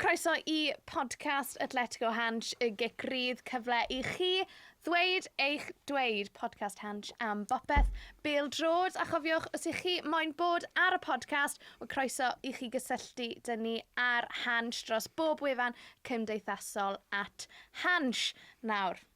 Croeso i podcast Atletico Hansh y Gic Rydd, cyfle i chi ddweud eich dweud podcast Hansh am bopeth bêl drod a chofiwch os ych chi moyn bod ar y podcast o croeso i chi gysylltu dyn ni ar Hansh dros bob wefan cymdeithasol at Hansh. Nawr,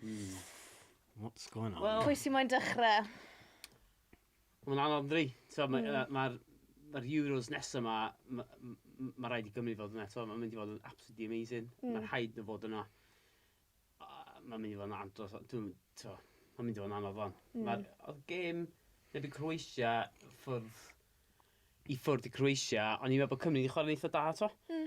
Hmm. What's going on? Well, Pwy sy'n moyn dechrau? Mae'n anodd dri. So, mae, mm. uh, mae'r mae'r Euros nesaf yma, mae ma rhaid i Gymru fod yna eto, mae'n mynd i fod yn absolutely amazing. Mm. Mae'n rhaid nhw fod yna. Mae'n mynd i fod yn andros, dwi'n, to, mae'n mynd i fod yn anodd fan. Mm. Mae'r oedd gêm, neb i Croatia, ffwrdd, i ffwrdd i Croatia, ond i'n meddwl bod Cymru wedi chwarae'n eitha da eto. Mm.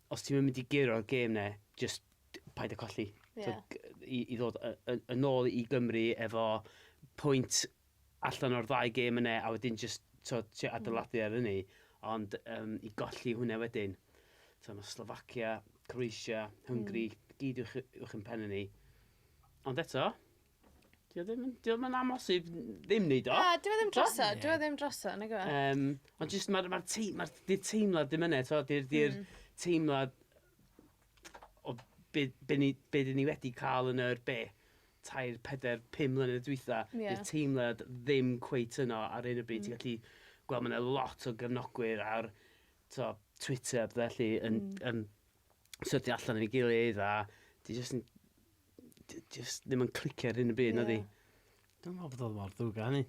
os ti'm yn mynd i guro'r gêm 'na, jyst paid â colli. Ie. T'od i i ddod y- y- yn ôl i Gymru efo pwynt allan o'r ddau gêm yna a wedyn jyst t'od trio adeiladu ar hynny ond yym i golli hwnna wedyn t'o' ma' Slovakia, Croatia, Hungary... Hmm. ...gyd uwch y- uwch 'yn penne ni. Ond eto Dio ddim, yn- dio ddim yn amhosib ddim wneud o. Na, dyw e ddim droso, Ie. dyw e ddim droso, nag yw e? Yym, ond jyst mae'r ma tei- ma 'di'r teimlad ddim yna, tibod, 'di'r 'di'r Mm. teimlad o be be ni be dyn ni wedi cael yn yr be? Tair, pedair, pum mlynedd dwytha, Ie. 'di'r teimlad ddim cweit yno ar hyn o bryd. Ti'n Mm. gallu gweld ma' 'na lot o gefnogwyr ar, tibod, Twitter a petha felly yn Mm. yn So ti allan efo'i gilydd a ti jyst yn... ti jyst ddim yn clicio ar hyn y byd, yeah. na di? Dwi'n meddwl bod oedd mor ddrwg â hynny.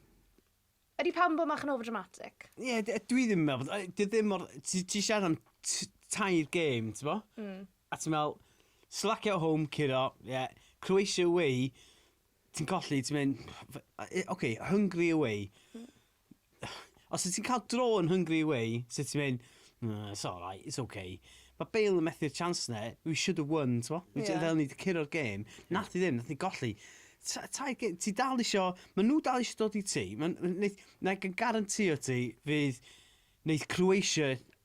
Ydy pam bod mach yn overdramatic? Ie, yeah, dwi ddim yn meddwl bod... Dwi ddim mor... Ti, ti siarad am tair game, ti bo? Mm. A ti'n meddwl, slack out home, curo, ie, yeah, Croatia away, ti'n colli, ti'n mynd... Oce, okay, hungry away. Mm. Os wyt ti'n cael dro yn Hungry Away, sut ti'n mynd, mm, it's alright, it's okay. Mae Bale yn methu'r chance na, we should have won, ti'n mo? Ni yeah. ni wedi curo'r gêm, nath i ddim, nath i golli. Tai, ti dal isio, mae nhw dal isio dod i ti, na i garantio ti fydd wneud Croatia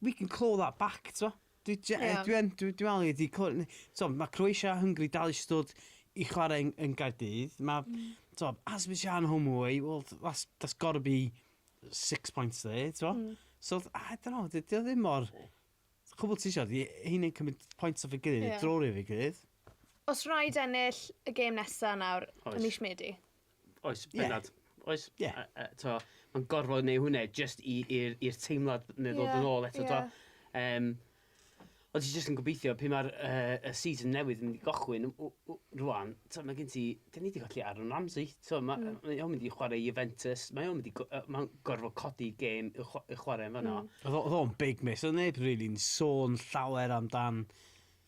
We can claw that back, t'mo'? Dwi je- yy... Ie. ...dwi yn dwi dwi me'wl nei di cly- ne- t'mo' ma' Croatia a Hungary dal isie dod i chwarae yn yn Gaerdydd. Ma'... Hmm. ...t'mo' Azerbaijan home away wel th- tha's that's gotta be six points there t'mo'? Hmm. So th- I don't know 'di o 'di o ddim mor... Cwbwl ti isio 'di heina'n cymryd points off ei gilydd... Ie. ...neu draw rif ei gilydd. Os rhaid ennill y gêm nesa nawr... Oes. ...ym mis Medi. Oes, bendant. Yeah. Oes, yeah. uh, uh, to, mae'n gorfod neu hwnna just i'r teimlad neu ddod yeah, yn ôl eto. Yeah. To, um, ond ti'n just yn gobeithio, pe mae'r uh, y season newydd yn mynd i gochwyn rwan, to, mae gen ti, dyn ni wedi colli Aaron Ramsey, to, mae mm. ma o'n mynd i chwarae Juventus, mae o'n mynd i, uh, mae'n gorfod codi gêm i, chw i chwarae yn fanna. Mm. Oedd o'n big miss, oedd neb rili'n really sôn llawer amdan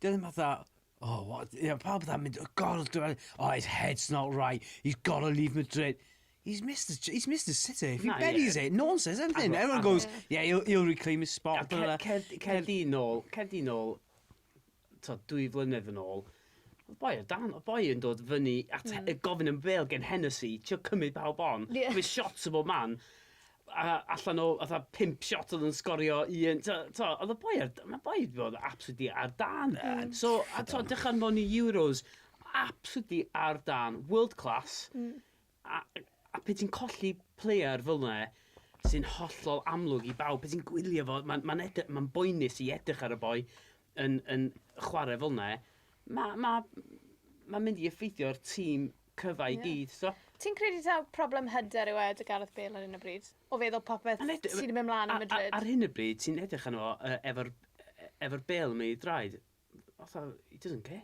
Dwi ddim fatha, oh what, you know, pawb fatha mynd, gorfod gwneud, oh his head's not right, he's got to leave Madrid. He's Mister Ch- he's Mister City, if he Na, ie. buries it, no one says anything, Agor- everyone agor- goes, yeah, he'll, he'll reclaim his spot. Ac blah, blah, cer- blah. cer- cer di nôl, cer di nôl, t'od, dwy flynedd yn ôl, oedd boi o dan, oedd boi yn dod fyny at he- gofyn am fel gen Hennessy, trio cymryd pawb on, Ie. with shots o bob man, a allan o fatha pump shot oedd yn sgorio un, t'o' t'o' oedd y boi ar d- ma' boi 'di bod absolutely ar dân. Yn So a t'o' ffyddlon. dechrau nôl yn y Euros absolutely ar dân, world class... Hmm. ...a a pe' ti'n colli player fel 'na sy'n hollol amlwg i bawb, pe' ti'n gwylio fo ma'n ma'n ede- ma'n boenus i edrych ar y boi yn yn chware fel 'na ma' ma' ma'n mynd i effeithio'r tîm cyfa i gyd, so... Ti'n credu taw problem hyder yw e dy Gareth Bale ar hyn o bryd? O feddwl popeth sydd yn mynd mlaen yn Madrid? Ar hyn o bryd, ti'n edrych arno fo yy efo'r e- efo'r bêl yn mynd i draed, fatha, he doesn't care.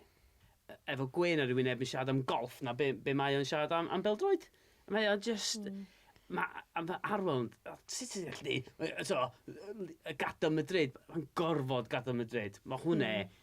E- efo gwên ar ei wyneb yn siarad am golff na be' be' mae o'n siarad am am bêl-droed. Mae o jyst... Hmm. Ma' a ma' Arwel o sut ti'n gallu deud yy t'mo' yy yy gadal Madrid, ma'n gorfod gadal Madrid. Ma' hwnne... Hmm.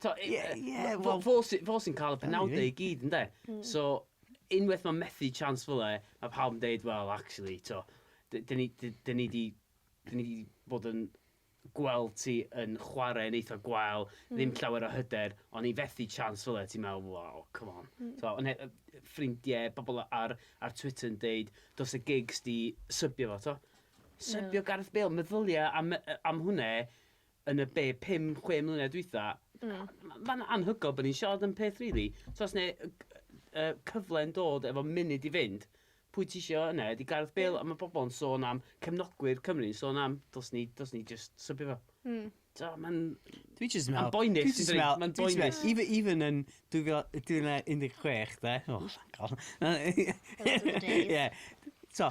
T'o' i- Ie ie wel... Fo fo sy fo sy'n ca'l y penawde i gyd ynde? Hmm. So unweth ma' methu chance fel 'e ma' pawb yn deud wel actually t'o' d- 'dyn ni d- 'dyn ni 'di 'dyn ni 'di bod yn gweld ti yn chware yn eitha gwael... Hmm. ...ddim llawer o hyder on' i fethu chance fel 'e ti'n me'wl waw come on. Hmm. T'o' on' he- yy yy ffrindie pobol ar ar Twitter yn deud dos y gigs 'di sybio fo t'o'? Ie. Sybio Gareth Bale meddylia am yy yy am hwnne yn y be, pum, chwe mlynedd dwytha, ma'n anhygoel bod ni'n siarad am peth rili, tibod os neu cyfle'n dod efo munud i fynd, pwy ti isio yna, ydy Gareth Bale, ond mae pobl yn sôn am cefnogwyr Cymru yn sôn am, dos ni, dos ni jyst sybio fo. Mm. Do, mae'n... Dwi jyst yn meddwl... Mae'n boenus, dwi'n dweud, mae'n boenus. Even, even yn 2016, de, oh, thank God. Those were the days. Yeah, so,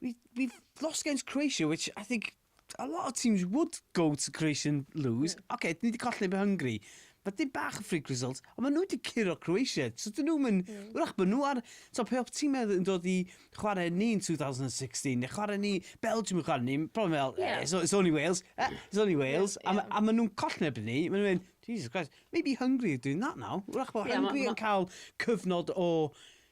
We, we've lost against Croatia, which I think a lot of teams would go to Croatia and lose. Yeah. OK, ni wedi colli be Hungary. Mae dim bach o freak result, ond maen nhw wedi curo Croatia. So dyn nhw'n mynd... Mm. Wrach, maen nhw ar... So pe oedd tîmau yn dod i chwarae ni yn 2016, neu chwarae ni... Belgium yn chwarae ni, probably fel, yeah. eh, it's, it's only Wales, eh, it's only Wales. Yeah, yeah. A, a maen nhw'n colli erbyn ni, maen nhw'n mynd, Jesus Christ, maybe Hungary are doing that now. Wrach bod yeah, Hungary yn cael cyfnod o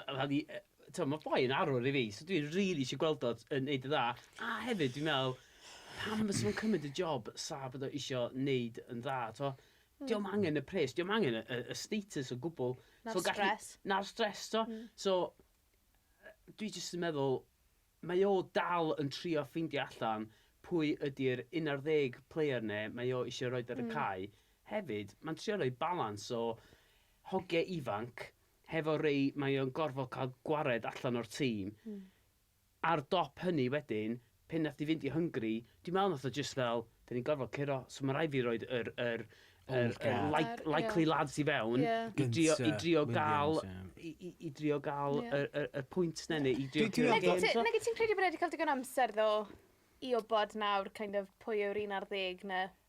fel i, t'o' ma' boi yn arwr i fi, so dwi rili isio gweld o yn neud yn dda, a hefyd dwi'n me'wl, pam fysa fo'n cymryd y job sa bod o isio neud yn dda, t'o'? Hmm. Dio'm angen y pres, dio'm angen y y y status o gwbwl. Na'r so, stress. Na'r stress, t'o'? Hmm. So, dwi jyst yn meddwl, mae o dal yn trio ffeindio allan pwy ydi'r 11 player 'ne mae o isio roed ar y mm. cae. Hefyd, mae'n trio rhoi balans o hogiau ifanc, Hefo Ray mae o'n gorfod cael gwared allan o'r tîm. Ar dop hynny wedyn, pan nath 'i fynd i Hungary, dwi'n meddwl nath o jyst fel, 'dan ni'n gorfod curo, so ma' raid fi roid yr yr yr yr like- likely lads i fewn i drio i drio ga'l i i i drio ga'l y y y pwynt 'na neu i drio curo gêm. Nage ti nage ti'n credu bod e 'di ca'l digon o amser ddo i wbod nawr kind of pwy yw'r un ar ddeg 'na?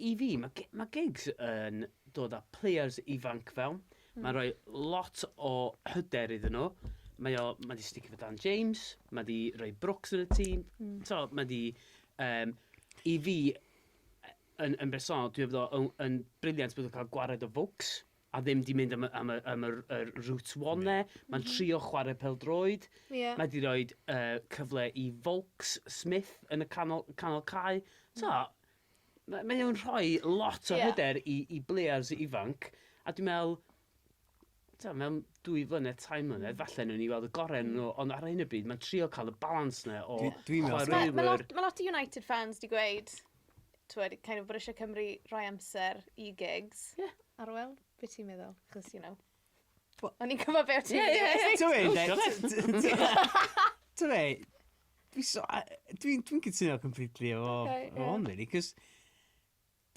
I fi, ma' gi- ma' gigs yn dod â players ifanc fewn. Hmm. Ma'n rhoi lot o hyder iddyn nhw. Mae o, ma' 'di sticio 'fo Dan James, ma' 'di rhoi Brooks yn y tîm. Hmm. So, ma' 'di, um, i fi, yn, yn bersonol, dwi efo yn, yn briliant bod nhw'n cael gwared o Vokes. a ddim 'di mynd am y am y am yr yr route one 'ne. Ma'n trio chware pêl-droed. Ie. Mae 'di roid yy cyfle i Volks, Smith yn y canol canol cae. T'mo'? Mae mae o'n rhoi lot o... Ie. ...hyder i i blêyrs ifanc a dwi me'wl t'mo' mewn dwy flynedd, tair mlynedd falle newn ni weld y gore o'nyn nw ond ar hyn o bryd ma'n trio ca'l y balans 'ne o... Dwi dwi'n me'wl... ...chwaraewyr... Achos ma' ma' lot ma' lot o United fans 'di gweud t'wod kind of bod isie Cymru rhoi amser i gigs. Ie. Ar ŵyl? Be' ti'n meddwl? 'Chos you know. Wel o'n i'n gwbo be' o' ti'n meddwl. Ie ie ie. T'mod be' 'de? T'mod be'? Dwi so a- yy dwi'n dwi'n cytuno completely efo... Oce ie. ...efo hwn rili 'c'os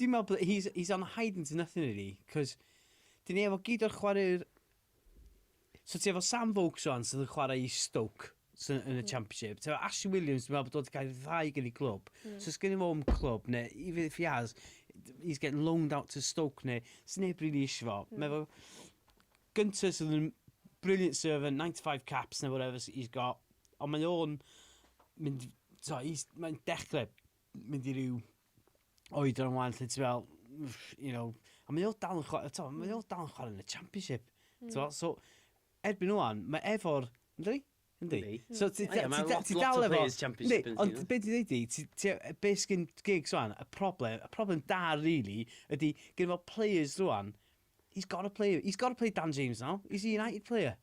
dwi'n me'wl bo' he's he's on a hiding to nothing rili 'c'os 'dyn ni efo gyd o'r chware'r So ti efo Sam Vokes wan sydd yn chwarae i Stoke sydd yn y Championship. Ti efo Ashley Williams, dwi'n meddwl bod wedi cael ei ddau gen i glwb. Mm. So sgyn i fo yn clwb, neu even if he has, he's getting loaned out to Stoke, neu sy'n neb rili eisiau fo. Mm. Meddwl, gyntaf sydd yn brilliant servant, 95 caps neu whatever he's got, ond mae o'n mynd, so, mae'n dechrau mynd i ryw oedran wan lle ti fel, you know, a mae o dal yn chwarae, mm. mae o dal yn chwarae yn y championship. Mm. So, so, erbyn o'n, mae efo'r, ynddi? Ynddi. So, ti dal efo... Ynddi, ond beth ti'n dweud i, be sgyn gigs o'n, y problem, y problem da, really, ydy, gen fo players rwan, he's got to play, he's got to play Dan James now, he's a United player.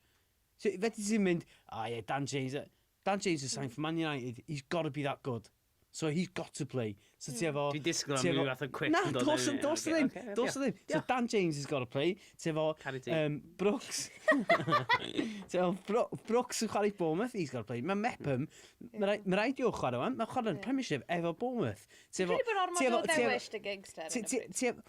So, fe ti'n mynd, oh yeah, Dan James, Dan James is signed for Man United, he's got to be that good. So he's got to play. So ti efo... Dwi'n disgwyl am rhyw fath o quip yn dod i fyny. Na, dos, dos ddim. Dos ddim. So Dan James has got to play. Ti efo... Um, Brooks. ti efo Bro Brooks yn chwarae Bournemouth, he's got to play. Mae Mepham, mae rhaid i'w chwarae wan, mae chwarae'n Premiership efo Bournemouth. Ti efo... Dwi'n bod ormod o ddewis dy gigs, Terry.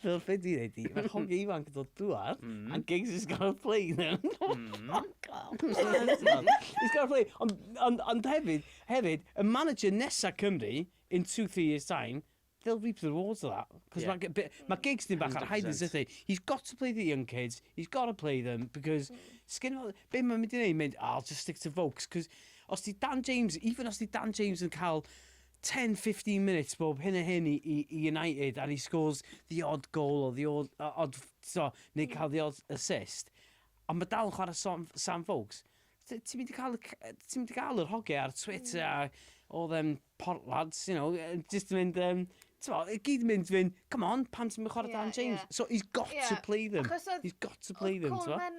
Fel be ti'n neud di? Mae'r hogiau ifanc yn dod dwad, a gigs is gonna play then. Fuck off. It's gonna play. Ond, ond, ond hefyd, hefyd, y manager nesa Cymru, in two, three years time, they'll reap the rewards of that. Cos yeah. mae ma gigs ni bach ar hiatus ydy. He's got to play the young kids, he's got to play them, because, sgyn fel, be mae'n mynd i wneud, mynd, oh, I'll just stick to folks, cos os di Dan James, even os di Dan James yn cael 10, 15 minutes bob hyn a hyn i, i, i United and he scores the odd goal or the odd, uh, odd so, neu cael the odd assist. Ond mae dal yn chwarae Sam, Sam Vokes. Ti'n mynd i cael, ti'n mynd i cael yr hoge ar Twitter a all them port lads, you know, just yn mynd, um, T'mo, i gyd yn mynd fyn, come on, pan ti'n mynd chwarae yeah, Dan James? Yeah. So he's got yeah. to play them. Achos oedd, he's got to play them, t'mo? Oedd Coleman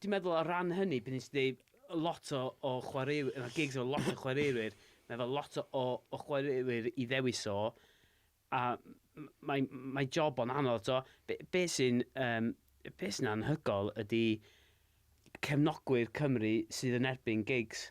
Dwi'n meddwl o ran hynny, be nes i ddeud, lot o o chwareu- ma' gigs efo lot o chwareurwyr, mae efo lot o o o chwareurwyr i ddewis o, a m- m- mae mae job o'n anodd, t'o'? Be' be' sy'n yym be' sy'n anhygoel ydy cefnogwyr Cymru sydd yn erbyn gigs.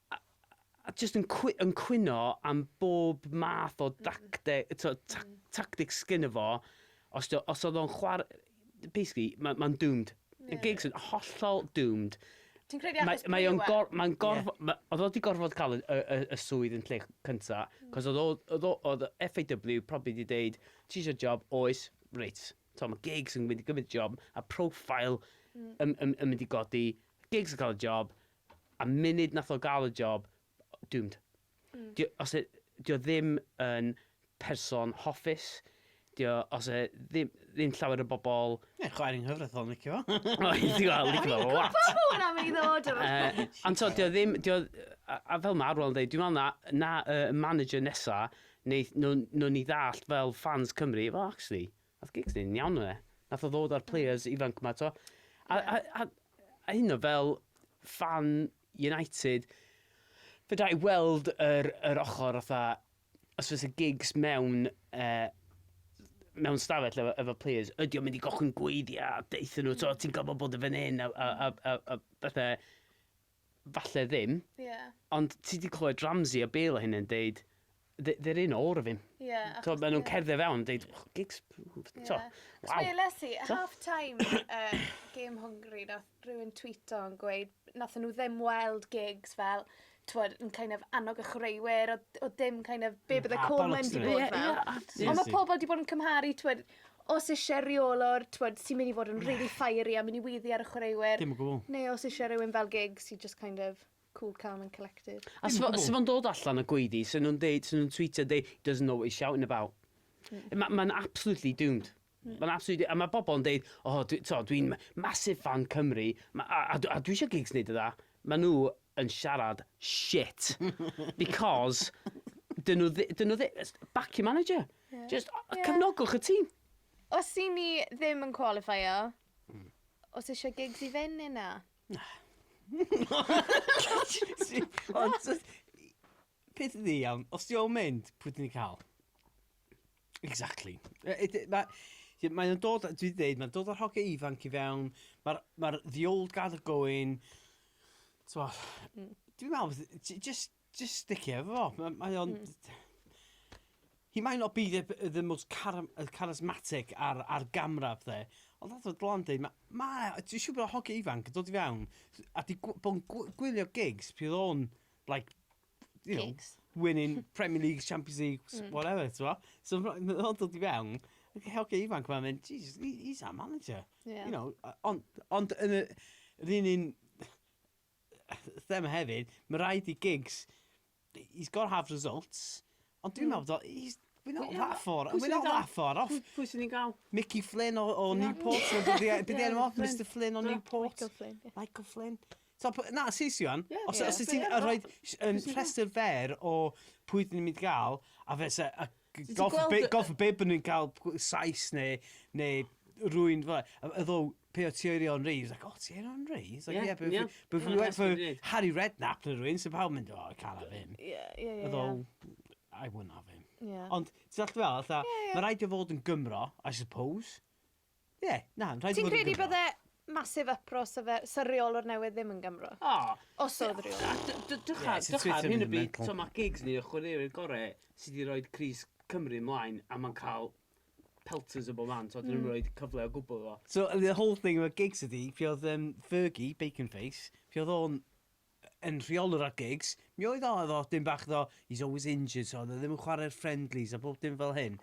a a jyst yn cwy- yn cwyno am bob math o dacte- t'o' ta- hmm. tactics sgynno fo os 'di o os o'dd o'n chwar- basically ma' ma'n doomed. Y yeah. gigs yn hollol doomed. Ti'n credu achos mae o'n gor, mae'n gorf, yeah. ma, oedd o wedi gorfod cael y, y, y, swydd yn lle cynta, hmm. cos oedd oedd oedd FAW probably wedi deud, ti eisiau job, oes, reit. So mae gigs yn mynd i gymryd job, a profile mm. yn, yn, yn mynd i godi, gigs yn cael y job, A munud nath o ga'l y job, doomed. Mm. Di o, os e, di o ddim yn person hoffus, di o, os e ddim, ddim llawer o bobl... Ie, chwaer yng nghyfraith o'n licio fo. O, ti'n gweld, licio fo lot. O'n i'n gwybod hwnna mynd i ddod o'r uh, Ond to, di o ddim, di o, a, a fel mae Arwel yn dweud, dwi'n meddwl na, na uh, manager nesa, neu nhw'n nhw ni ddallt fel fans Cymru, well, actually, Nath gigs neud yn iawn o e. Nath o ddod a'r players ifanc 'ma t'o'? A a a a hyd yn o'd fel ffan United fedra i weld yr yr ochor fatha os fysa gigs mewn yy mewn stafell efo efo players ydi o'n mynd i gollwng gweithia' a deutha nhw t'o' ti'n gorfod bod yn fan 'yn a a a a a pethe. falle ddim. Ie. Ond ti 'di clywed Ramsey a Bale a hyn yn deud they- they're in all of 'im. Ie achos... T'od ma' nw'n cerdded fewn yn deud oh gigs ww t'o'... Ie. Waw. Achos weles i at half time yy gêm Hwngari nath rywun twîto yn gweud nathon nw ddim weld gigs fel t'mod yn kind of annog y chwaraewyr odd odd dim kind of be' bydde Coleman 'di bod fel. Ond ma' pobol 'di bod yn cymharu t'mod os isie reolwr t'mod sy myn' i fod yn rili fiery a myn' i weiddi ar y chwaraewyr... Dim o gwbwl. ...neu os isie rywun fel Giggs sy jyst kind of cool calm and collected. A sa fo sa fo'n dod allan y gweiddi sa nw'n deud sa nw'n twîtio deu' he doesn't know what he's shouting about. Hmm. Ma' ma'n absolutely doomed. Hmm. Ma'n absolutely a ma' bobol yn deud o dwi t'o' dwi'n ma- massive fan Cymru ma' a a dw- a dwi isio Giggs neud y dda. Ma' nw yn siarad shit because 'dyn nw ddi- 'dyn nw ddi- s- back your manager. Ie. Jyst o- yy cefnogwch y tîm. Os 'yn ni ddim yn cwalifeio, o's isie gigs i fyn' ne' na? Ond t- i- peth ydi iawn, os 'di o'n mynd, pwy 'dyn ni ca'l? Exactly. Yy yy d- ma' ie mae o'n dod o dwi 'di deud ma'n dod o'r hogie ifanc i fewn ma'r ma'r the old guard are going t'mo'... Hmm. ...dwi me'wl fydd j- jyst Just stick it efo fo. M- mae o'n... He might not be the the the most cara- yy charismatic ar ar gamera a pethe, ond fatha oedd Dylan yn deud, ma' ma' 'na... Dwi'n siŵr bod 'na hogiau ifanc yn dod i fewn s- a 'di gw- bod yn gw- gwylio gigs pryd oedd o'n like, you know... Gigs? ...winning Premier Leagues, Champions Leagues, whatever, tibod. So ma' ma' nhw'n dod i fewn, ac y hogiau ifanc ma'n mynd, "Jesus, he he's our manager. Ie. ...You know, o- ond ond yn y yr un un... thema hefyd, mae rhaid i Giggs, he's got to have results, ond dwi'n meddwl, mm. he's, we're not that far, we're not that far off. Pwy sy'n ni'n gael? Mickey Flynn o, o Newport, bydd e'n off, Mr Flynn o Newport. Michael Flynn. Michael Flynn. So, na, sis Iwan, yeah, os, yeah, os ti'n rhoi rhestr fer o pwy dyn ni'n mynd gael, a fe se, a Golf bib, golf bib yn cael Sais neu, neu rwy'n fel e. Yddo, pe o ti o'i Rion Reeves, ac o ti o'i Rion Reeves? Ie, ie. But if we went for Harry Redknapp neu rwy'n, sy'n pawb mynd, oh, I can't have him. Ie, ie, ie. Yddo, I wouldn't have him. Ie. Ond, ti'n all fel, fatha, mae rhaid i fod yn Gymro, I suppose. Ie, na, yn rhaid i fod yn Gymro. Ti'n credu bydde massive uproar sa fe, sa reolwr newydd ddim yn Gymro? O! Os oedd reolwr. Dychar, dychar, hyn y byd, so mae gigs ni o chwaraewyr gorau sydd wedi rhoi crys Cymru ymlaen a mae'n cael pelters o bob man, so dyn nhw'n rhoi cyfle o gwbl iddo fo. So, the whole thing about gigs ydi, pryd oedd Fergie, Bacon Face, pryd oedd o'n yn rheolwr ar gigs, mi oedd o, oedd o, dim bach ddo, he's always injured, so oedd e ddim yn chwarae'r friendlies a bob dim fel hyn.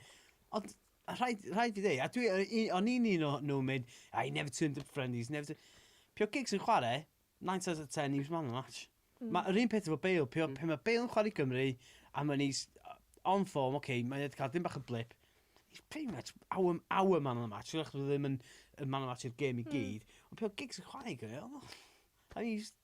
Ond, a rhaid, rhaid fi ddweud, a dwi, o'n i'n un o nhw'n mynd, I never turned up friendlies, never turned... Pio gigs yn chwarae, 9 times out of 10, he was man of the match. Mm. Mae yr un peth efo Bale, pio, mm. pe mae Bale yn chwarae Gymru, a mae'n ei on form, oce, okay, mae'n cael dim bach o blip, he's pretty much our, our man of the match, dwi'n ddim yn, yn man of the match i'r gêm i hmm. gyd, mm. ond pio gigs yn chwarae Gymru, oedd I mean, just...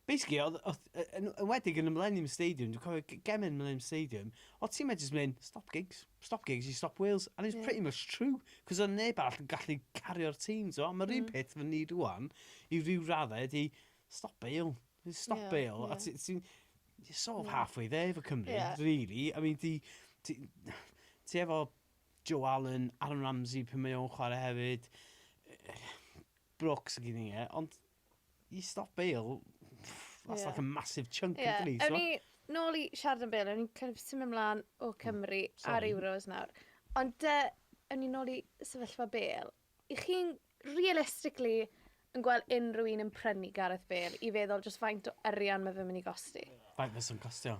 Basically, oedd, oedd, yy, yn enwedig yn y Millennium Stadium, dwi'n cofio g- gemau yn y Millennium Stadium, oedd ti'n meddwl jyst mynd, stop gigs, stop gigs i stop Wales, and it's Ie. pretty much true, cos oedd neb arall yn gallu cario'r tîm, ti'n gwybod? Mae'r un peth efo ni rwan, i ryw raddau, ydi, stop Bale, just stop Ie, Bale, a ie. ti- ti'n... You're sort of halfway there efo Cymru, Ie. really, I mean, ti, ti, ti efo Joe Allen, Aaron Ramsey, pan mae o'n chwarae hefyd, Brooks ag un i e, ond i stop Bale, that's like a massive chunk yeah. yn dweud. Ewn ni nôl i siarad am Bale, ewn ni'n kind of symud ymlaen o hmm. Cymru mm, ar Euros nawr. Ond uh, ewn ni nôl i sefyllfa Bale. I chi'n realistically yn gweld unrhyw un yn prynu Gareth Bale i feddwl just faint o arian mae fe'n mynd i gosti? Faint fe'n costio?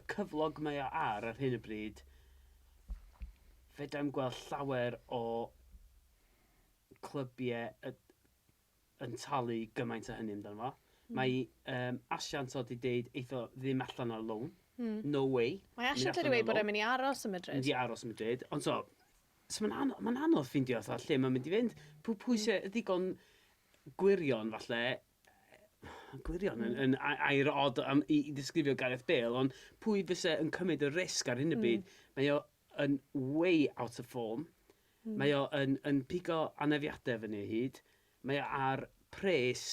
y cyflog mae o ar ar hyn o bryd, fedrai'm gweld llawer o clybiau y- yn talu gymaint o hynny amdano fo. Mm. Mae um, asiant oedd wedi deud eitho ddim allan ar loan. Mm. No way. Mae asiant wedi dweud bod e'n mynd i aros yn Madrid. Mynd i aros yn Madrid. Ond so, so mae'n anodd, ma anodd ffindio fatha lle mae'n mynd i fynd. Pwy, pwy mm. sy'n ddigon gwirion falle Mae'n gwirion yn, yn air od am, i, i ddisgrifio Gareth Bale, ond pwy fyse yn cymryd y risg ar hyn y byd? Mm. Mae o yn way out of form. Mm. Mae o yn, yn pigo anefiadau fyny o hyd. Mae o ar pres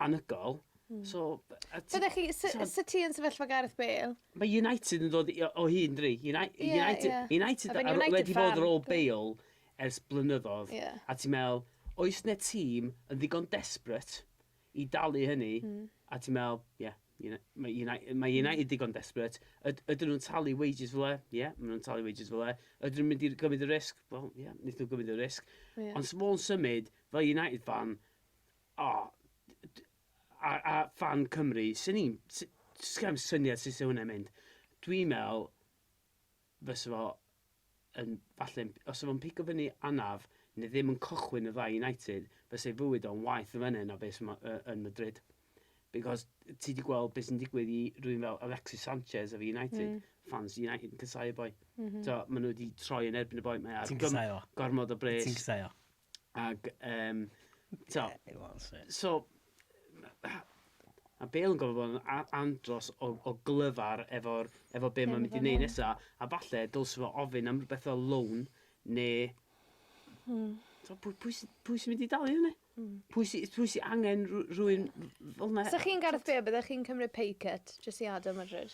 anygol. Mm. So, Byddech chi, sy ti yn sefyllfa Gareth Bale? Mae United yn dod o hyn, dri. United, yeah, yeah. United, United, United wedi bod ar ôl Bale ers blynyddodd, a ti'n meddwl, oes 'na tîm yn ddigon desperate i dalu hynny, a ti'n meddwl, ie, mae United ddigon desperate, ydyn nhw'n talu wages fel 'na? Ie, maen nhw'n talu wages fel 'na. Ydyn nhw'n mynd i gymryd y risg? Wel, ie, wnaethon nhw gymryd y risg. Ond 'sa fo'n symud, fel United fan, o, a fan Cymru, 'swn i'n, sgenna i'm syniad sut 'sa hwnna'n mynd. Dwi'n meddwl, fysa fo yn falle yn... os 'sa fo'n pigo fyny anaf neu ddim yn cychwyn y ddau United, fysa ei fywyd o'n waeth yn fen'na na be' sy' 'ma y- yn Madrid. Because ti 'di gweld be' sy'n digwydd i rhywun fel Alexis Sanchez efo United. Mm. Ffans United yn casau y boi. M-hm. T'o' ma' nw 'di troi yn erbyn y boi mae ar... Ti'n casau o? ...gormod o bres. Ti'n casau o? Ac, um, to, so, a Bale yn gofio bod yn andros o, o glyfar efo'r, efo be mae'n mynd i wneud nesaf, a falle dylse fo ofyn am rhywbeth fel loan, neu... Hmm. So, pwy, pwy, pwy sy'n mynd i dalu hynny? Hmm. Pwy sy'n pwy sy angen rhywun fel yna? So chi'n Gareth Bale, byddech chi'n cymryd pay cut, jyst i adael Madrid?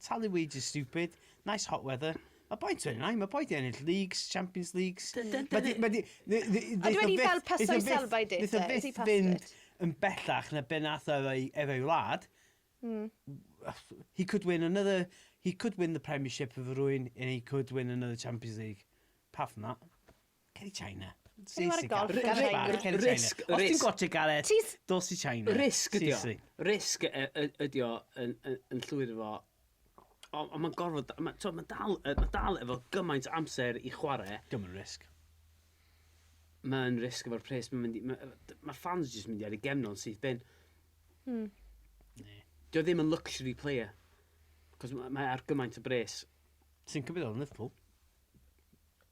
Talu weeds is stupid. Nice hot weather. Mae boi yn yna, mae boi di ennill leagues, champions leagues. Mae di, mae di... Ond wedi fel paso i Selva i date, e? Is he past it? yn bellach na be nath ar ei, ar ei wlad. Mm. He could win another... He could win the Premiership of rwy'n and he could win another Champions League. Apart from that. Ceri China. Ti ar y golf gan China. Ceri China. Os ti'n gwaethe galed, dos i China. Risg ydi o. Risg ydi o yn llwyr efo. Ond mae'n gorfod... Mae'n dal efo gymaint amser i chwarae. Dim yn risg. Mae'n risg efo'r pres. Mae'r ffans jyst yn mynd i ar ei gefn o'n syth bin. Dio ddim yn luxury player. Cos mae ar gymaint o bres. Ti'n cymryd o'n Liverpool?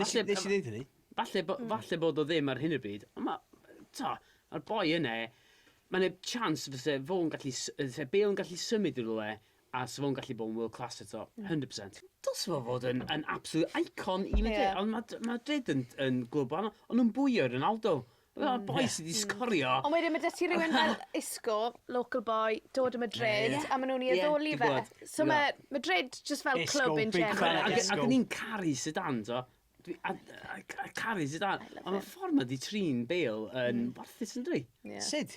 Falle... Nes i ddeud hynny. Falle, bo, mm. falle bod o ddim ar hyn o bryd, ond mae, ta, mae'r boi yna, mae'n ei chance fyse fo'n gallu, fyse Bale yn gallu symud i rhywle, a fyse fo'n gallu bod yn world class eto, 100%. Mm. Dos fo fod yn, yn absolute icon i Madrid, yeah. ond mae ma Madrid yn, yn glwb ond nhw'n bwyo Ronaldo. Fel boi sy 'di sgorio... Ond wedyn ma' 'da ti rywun fel Isco, local boy, dod o Madrid... Ie. ...a ma' nw'n 'i addoli fe. Ie, dwi gwbod. So ma' Madrid jyst fel clwb in general... Isco, big fan of Isco. Ac o'n i'n caru Zidane t'o'? Dwi a- a- ca- caru Zidane. I love him. On' y ffor ma' 'di trin Bale yn warthus yndyw 'i? Ie. Sud?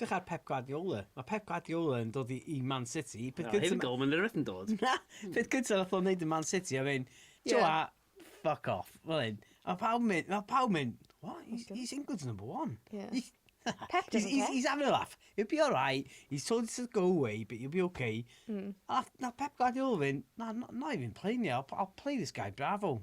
Edrych ar Pep Guardiola. Mae Pep Guardiola yn dod i, i Man City. Peth no, here we go, mae'n rhywbeth yn dod. Na, peth gyntaf nath o'n neud yn Man City, a fe'n, ti'n yeah. fuck off, fel hyn. A pawb mynd, a pawb mynd, what, he's, he's England's number one. Yeah. He's, Pep he's, he's, he's having a laugh. He'll be alright. He's told us to go away, but he'll be okay. Mm. A na Pep Guardiola fe'n, na, na, na i fi'n play ni, I'll, I'll play this guy, bravo.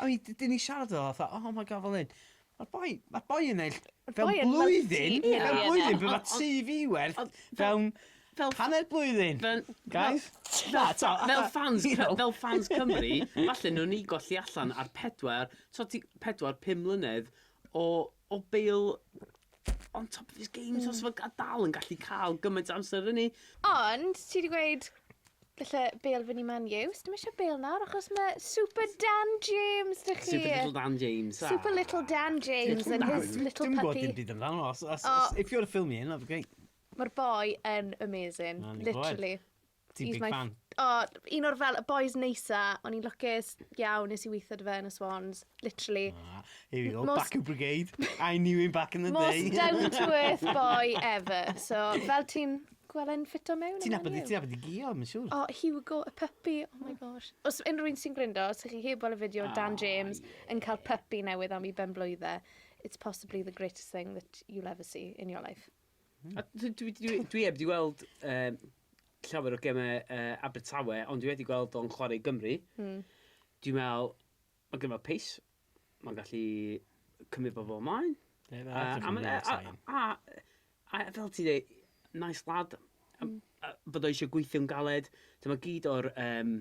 I mean, d- dan ni'n siarad fel fatha, oh my God, fel hyn. Mae'r boi, mae'r boi yn ennill Mae'r fewn boi yn blwyddyn, multi- ie, mewn ie, blwyddyn, ie. be mae tŷ fi werth Ond- fewn Fel hanner blwyddyn, Fel- guys. Na, ta, fel fatha, fans, you know. fel fans Cymru, falle nhw'n ni golli allan ar pedwar, so ti pedwar, pum mlynedd o o Bale on top of his game so so a dal yn gallu ca'l gymaint o amser fyny. Ond ti 'di gweud galle Bale fyn' i Man U. Sdim isie Bale nawr achos ma' Super Dan James 'da chi. Super little Dan James. Super little Dan James and his little puppy. Dim gwbod dim byd amdano os os os if you wanna fill me in that'd be great. Ma'r boi yn amazing. Literally. Ti'n He's big my- fan. O, un o'r fel, y boys neisa, o'n i'n lwcus iawn, nes i weithio dy fe yn y Swans, literally. Ah, here we go, Most- back in brigade. I knew him back in the Most day. down to earth boy ever. So, fel ti'n gweld e'n ffito mewn? Ti'n yma abod ni? ti'n abod i gio, mae'n siŵr. O, Hugo, y puppy, oh my gosh. Os unrhyw un sy'n gryndo, os ydych chi heb weld y fideo o Dan Ah, James yn cael puppy newydd am i ben blwydde, it's possibly the greatest thing that you'll ever see in your life. Hmm. A dwi, dwi, dwi, dwi heb di weld uh, llawer o gemau uh, Abertawe, ond dwi wedi gweld o'n chwarae i Gymru. Hmm. Dwi'n meddwl, mae gen i fel pace, mae'n gallu cymryd bobl ymlaen. Ie, na, Uh, a, dwi'n ma- rili a, excited. a, a, a fel ti dweud, nice lad, a, Mm. a, bod o eisiau gweithio'n galed, dyma gyd o'r um,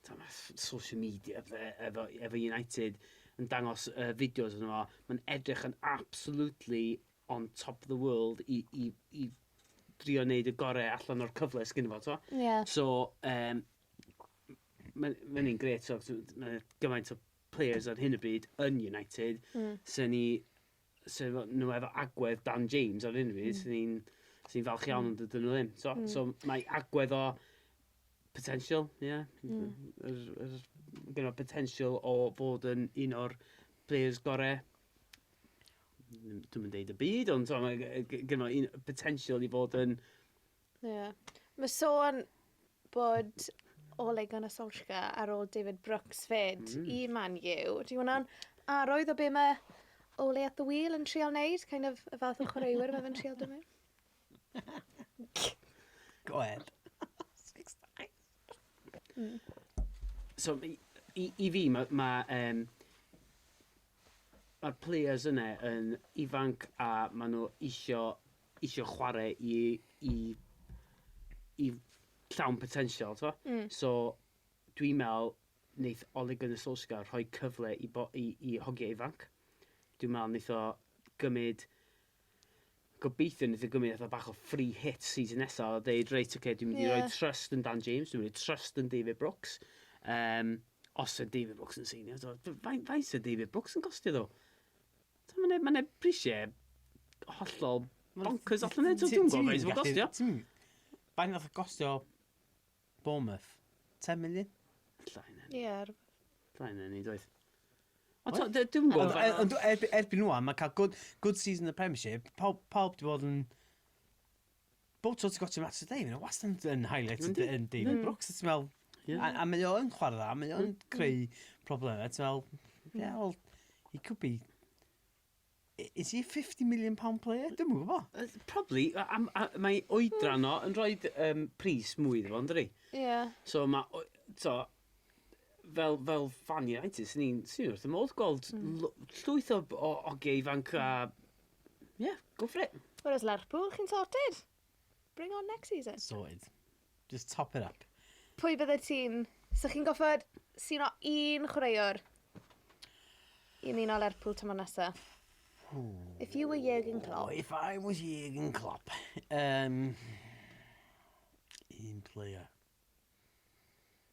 dyma, s- social media fe, efo, efo United yn dangos uh, fideos yno fo, mae'n edrych yn absolutely on top of the world i i i drio neud y gore allan o'r cyfle sy gynno fo t'mo'? Ie. So yym ma' ma' ynny'n grêt t'mo' so t- ma' gymaint o players ar hyn o bryd yn United... Hmm. ...sa ni sa fo n'w efo agwedd Dan James ar hyn o bryd... Hmm. ...sa ni'n sa ni'n falch iawn... Hmm. ...ond dydyn n'w ddim t'mo'? Hmm. So mae agwedd o potential ie? Hmm. Yr yr gynno potential o fod yn un o'r players gore dwi'm yn deud y byd, ond t'mo' mae yy g- gynno un potential i fod yn... Ie. Mae sôn bod Ole Gunnar Solskjaer ar ôl David Brooks 'fyd... Mm. ...i Man U. Ydy hwnna'n arwydd o be' ma' Ole at the wheel yn trial neud kind of y fath o chwaraewyr ma' fe'n trial dod mewn? Go ahead. Six times. Hmm. So i i i fi ma' ma' yym Mae'r players yna yn ifanc a maen nhw isio, isio chwarae i, i, i llawn potensial, tibod? Mm. So, dwi'n meddwl, wneith Ole Gunnar Solskjaer rhoi cyfle i, bo, i, i hogiau ifanc. Dwi'n meddwl wneith o gymryd Gobeithio neith e gymryd fatha bach o free hit season nesa a deud reit oce dwi'n mynd i roi trust yn Dan James dwi'n mynd i roi trust yn David Brooks yym os yw David Brooks yn seinio t'o' f- fain- faint yw David Brooks yn costio ddo? T'o' ma' 'ne ma' 'ne prisie hollol boncyrs allan 'ne t'o' dwi'm yn gwbo faint ma'n gostio. Ti'm faint nath o gostio Bournemouth. Ten million? Alla hynna ni. Ie, rhywbeth. Alla hynna ni, doedd. Ond Oedd? dwi ddim yn Ond gwybod. e- ond erb- erbyn nhw, mae cael good, good season yn y Premiership, pawb, pawb di bod yn... Bob tro ti'n gotio match o Dave, mae'n wastad yn- yn highlight Yndi, yn David yndi. Brooks, a ti'n meddwl... Ie. A, a mae o yn chwarae dda, mae o yn creu problemau, ti'n meddwl... Ie, wel, he could be... Is he a £50 million player? Dwi'm yn gwybod. Uh, probably. A, a, a, mae oedran o yn rhoi um, pris mwy iddo fo, ynddi? Ie. Yeah. So mae, so, fel, fel fan United, sy'n ni'n sy'n wrth y modd gweld mm. llwyth o, o oge ifanc a... Ie, yeah, go for it. Whereas Lerpwl, chi'n sorted. Bring on next season. Sorted. Just top it up. Pwy byddet ti'n... 'Sa chi'n goffod suno un chwaraewr i ymuno Lerpwl tymor nesa? If you were Jurgen Klopp. If I was Jurgen Klopp. Um, un player.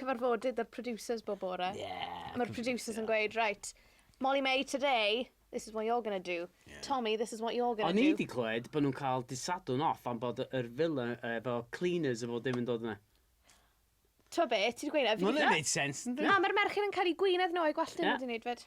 cyfarfodydd 'da'r producers bob bore. Ie. A ma'r producers yn gweud reit Molly-Mae today this is what you're gonna do. Ie. Tommy this is what you're gonna do. O'n i 'di clywed bo' nhw'n cael dydd Sadwrn off am bod yr villa efo cleaners a bob dim yn dod yna. T'mo' be' ti 'di gweud e fi 'di... Ma' wnna'n neud sense yndi? Na ma'r merched yn cael 'u gwynedd nhw a'u gwallt nhw 'di neud 'fyd.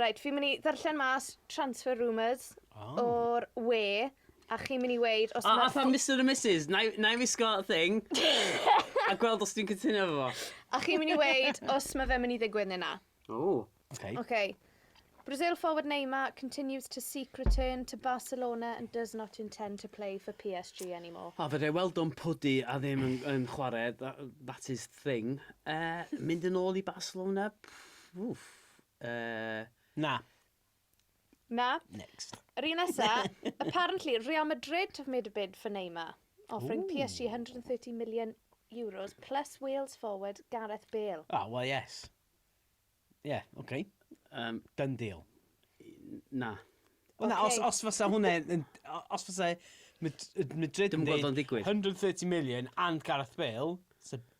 Reit, fi'n mynd i ddarllen mas transfer rumours o'r we, a chi'n mynd i weud os mae... A fatha Mister and Missus, na i na i wisgo thing, a gweld os dwi'n cytuno efo fo. A chi'n mynd i weud os mae fe'n mynd i ddigwydd neu na. Ww. Oce. Oce. Brazil forward Neymar continues to seek return to Barcelona and does not intend to play for PSG anymore. O, fedra i weld o'n pwdu a ddim yn yn chwarae, that is thing. Yy, mynd yn ôl i Barcelona? Wff. Yy... Na. Na. Next. Yr un nesa, apparently, Real Madrid have made a bid for Neymar, offering Ooh. PSG 130 million euros plus Wales forward Gareth Bale. Ah, well, yes. Yeah, okay. Um, Done deal. Na. Wel na, os, os fysa hwnna, os fysa Madrid yn dweud 130 million and Gareth Bale, so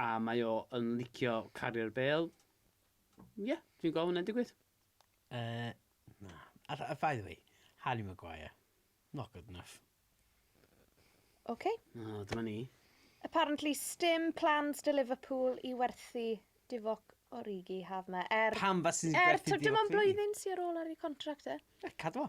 A mae o yn licio cario'r bêl. Ie, yeah, dwi'n gweld hwnna'n digwydd. Uh, na. A, a by the way, Harry Maguire. Not good enough. OK. No, dyma ni. Apparently, stim plans dy Liverpool i werthu Divock Origi haf yma. Er, Pam fas ti'n er, gwerthu Divock Origi? Dim ond blwyddyn sy'n ar ôl ar ei contract e. Cadw fo.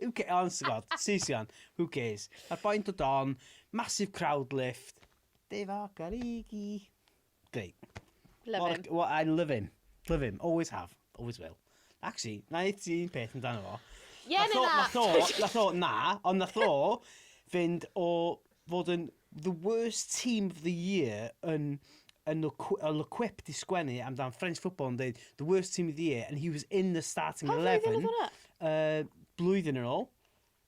Who ca- honest to God, Saeson, who cares? Mae'r boi'n dod on, massive crowd lift. Dave Okarigi. Great. Love What a- him. what- I love him. Love him, always have, always will. Actually, na i ti un peth amdano fo. Ie neu na? Nath o, nath o, na, ond nath o fynd o fod yn the worst team of the year yn yn ill-equipped i sgwennu amdan French football yn dweud the worst team of the year and he was in the starting Pa flwyddyn 11 oedd hwnna? uh, blwyddyn yn ôl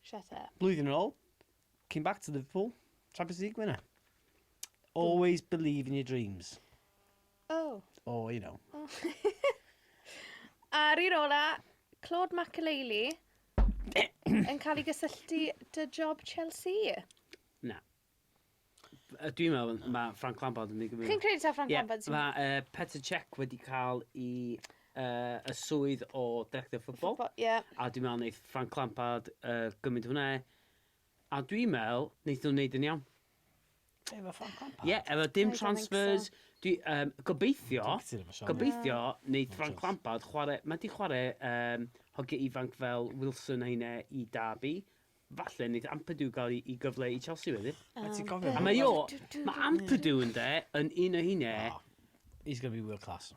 Shut up. blwyddyn yn ôl came back to Liverpool Champions League winner always believe in your dreams Oh. or you know Ar un ola, Claude Makelele, yn cael ei gysylltu dy job Chelsea? Na. Yy, Dwi'n meddwl mae Frank Lampard yn mynd i gymryd... Chi'n credu taw Frank yeah, Lampard sy'n... Mae uh, Petr Cech wedi cael i uh, y swydd o director ffwbol. Ffwbol, ie. Yeah. A dwi'n meddwl wneud Frank Lampard uh, gymryd hwnna. E. A dwi'n meddwl, wneud nhw'n wneud yn iawn. Efo ffôn compacts? Ie, efo dim transfers. Dwi, um, gobeithio, gobeithio, neu Frank Lampard, chwarae, mae di chwarae um, hogiau ifanc fel Wilson Heine i Derby. Falle, nid Ampadu gael i gyfle i Chelsea wedyn. A ti'n cofio? A mae o, mae Ampadu yn de, yn un o heine. Oh, he's going to be world class.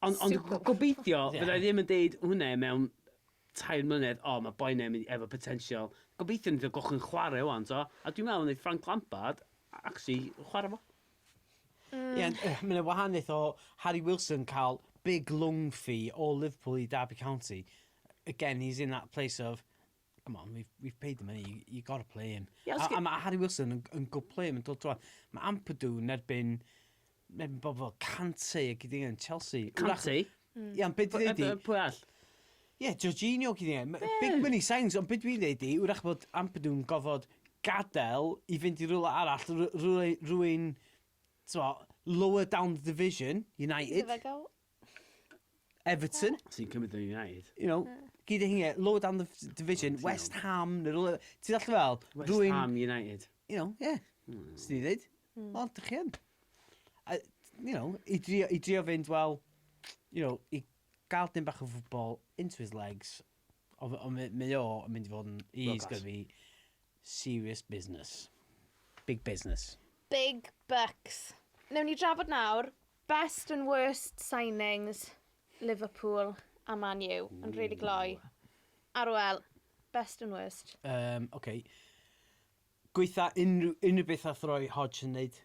Ond ond Super gobeithio Ie. fydda i ddim yn deud hwnna mewn tair mlynedd, o mae boi ne'n mynd efo potensial. Gobeithio neith o gochyn chwarae ŵan t'o'? A dwi'n meddwl neith Frank Lampard a- actually chwarae fo. Ie ond yy ma' 'na wahaniaeth o Harry Wilson ca'l big loan fee o Liverpool i Derby County again he's in that place of Come on, we've, we've paid the money, you, you got to play him. Yeah, a, a mae Harry Wilson yn, yn good play him yn dod drwa. Mae Ampadu yn erbyn, erbyn bobl fel Cante a gyda yn Chelsea. Cante? Mm. Ia, ond beth dwi'n dweud i... Pwy all? Ie, yeah, Jorginho gyda yn. Big money signs, ond beth dwi'n dweud i, wrach bod Ampadu'n gofod gadael i fynd i rhywle arall, rwy'n, lower down the division, United. Fe gael Everton. Ti'n cymryd yn United. You know, gyd ei hynge, lower down the division, oh, West Ham, neu rhywle... Ti'n all fel... West rwy'n, Ham United. You know, yeah. Mm. Swn i ddweud. Mm. O, dych chi yn. You know, i drio, i drio fynd, wel, you know, i gael dim bach o ffwbol into his legs, ond mae o yn mynd i fod yn... He's going to be serious business. Big business. Big bucks. Newn ni drafod nawr Best and worst signings, Liverpool a Man U, yn rili gloi. Arwel, best and worst? Yym, ocê. Gwaetha unrhyw, unrhyw beth wnaeth Roy Hodgson wneud.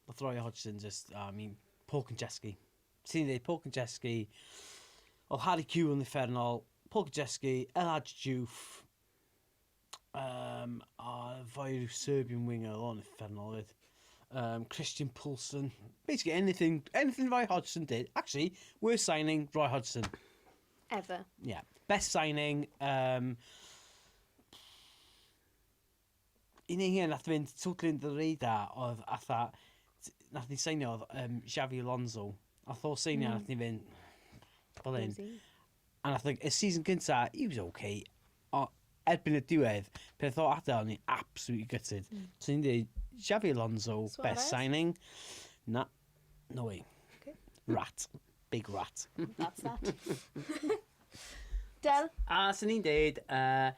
Wnaeth Roy Hodgson jyst, I mean, Paul Konchesky. Ti'n dweud Paul Konchesky, oedd Harry Kewell yn uffernol, Paul Konchesky, El Hadji Diouf, Um, a fo'r Serbian winger, o'n effernol oedd. Um, Christian Poulsen. Basically, anything, anything Roy Hodgson did. Actually, worst signing, Roy Hodgson. Ever. Yeah. Best signing, um, un ei hyn nath fynd totally under the radar oedd atha, nath ni seinio oedd um, Xavi Alonso. A tho seinio mm. nath ni fynd, oedd hyn. A nath y season cynta, he was ok, o- erbyn y diwedd, pan nath o adael, o'n i absolutely gutted. Mm. So ni'n dweud, Xabi Alonso, Suarez. best signing. Na, no way. Okay. Rat. Big rat. That's that. Del? A sy'n ni'n dweud, uh,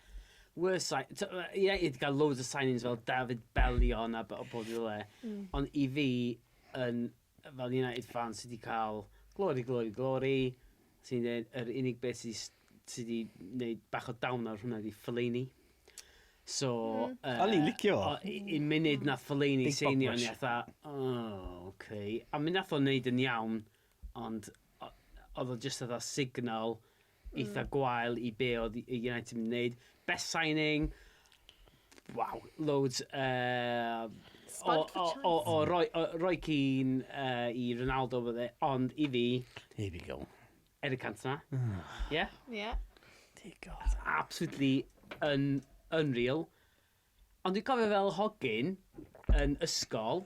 worst sign... Ie, yeah, i gael loads of signings fel David Bellion a bod i le. Mm. Ond i fi, yn fel United fan sy 'di cael glory, glory, glory, sy'n i'n dweud, yr unig beth sy 'di sy 'di wneud bach o down ar hwnna ydi Fellaini. So... Mm. Uh, O'n i'n licio. I'n munud na Fellaini Big seinio, ni atha, oh, okay. A mi nath o'n neud yn iawn, ond oedd o just atha signal eitha gwael i be oedd United yn wneud. Best signing, waw, loads uh, o, o, o, o, Roy, o Roy Keane uh, i Ronaldo fydde, ond i fi... Here we go. Eric Cantona. Ah. Ie? Ie. Digon. Absolutely un, unreal. Ond dwi'n cofio fel hogyn yn ysgol,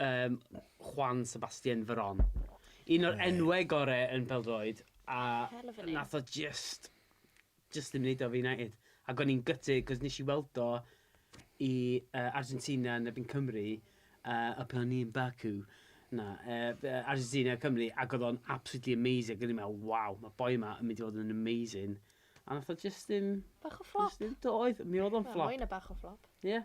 Yym, Juan Sebastian Veron. Un o'r enwau gore yn pêl-droed, a nath o jyst, jyst ddim neud o efo United. Ac o'n i'n gutted, 'cos nes i weld o i yy Argentina yn erbyn Cymru, yy y pan o'n i yn Baku, na, yy yy Argentina, Cymru, ac o'dd o'n absolutely amazing, ac o'n i'n me'wl, waw, ma'r boi 'ma yn mynd i fod yn amazing, a nath o jyst ddim... Bach o fflop. ...jyst ddim, do, oedd, mi oedd o'n fflop. Wel, mwy na bach o fflop. Ie.